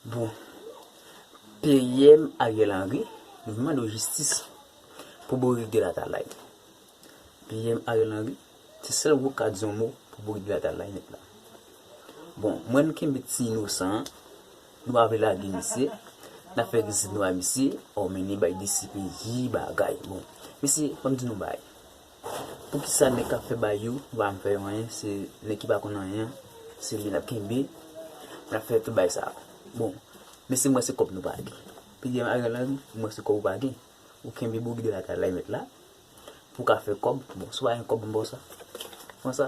Bon PM Ariel Henry nou mande w jistis pou bourik de latalay. PM Ariel Henry se sèl wou ka di yon mo pou bourik de latalay nèt la. Bon mwen m kenbe ti inosan an nou pa vle lage misye nap fè egzèsis nou a misye o mennen bay disipliye bagay bon mesye fòm di nou bagay. Poukisa nèg kap fè bay yo pa janm fè yo anyen se nèg ki pa konn anyen an se li lap kenbe lap fè tout bagay sa bon mesye m wè se kòb nou pa gen pdm Ariel Henry m wè se kòb ou pa gen ou kenbe bourik de la kay la e mèt la pou ka fè kòb bon si w pa gen kòb m ba w sa pran sa.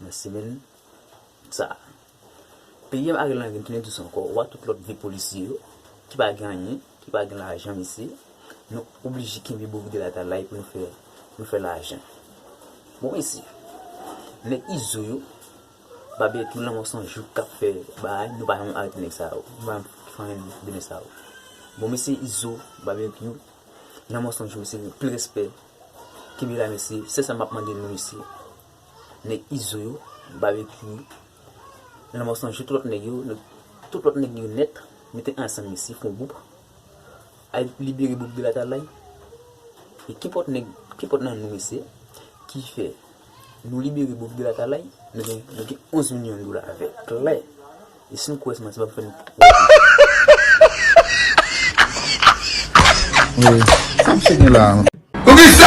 Mwen simen sa. Peyim ak lang m knnen dous ankò ou a tout lòt vye polisye yo ki pa gen anyen ki pa gen lajan mesye nou oblije kenbe borik de la talay pou nou fè pou nou fè lajan bon mesye nèg izo yo babè tou lanmò san jouk kap fè bagay nou pa janm arete nèg sa yo nou pa janm fè anyen de nèg sa yo bon mesye izo babekyou lanmò san jou mesye anpil respè kenbe la mesye sèl sa map mande nou mesye. nèg izo yo, Barbecue, Lanmò San Jou, tout lòt nèg yo, tout lòt nèg yo nèt, mete ansanm mesye fon gwoup, al libere Bob Gel Atalay, e kenpòt nèg, kenpòt nan nou mesye, ki fè nou libere Bob Gel Atalay, nou gen, nou gen 11 milyon dola avèl, klè, e si nou kwè se manti m'ap fè nou kwè se manti. Mwen, sa m'sye gen la?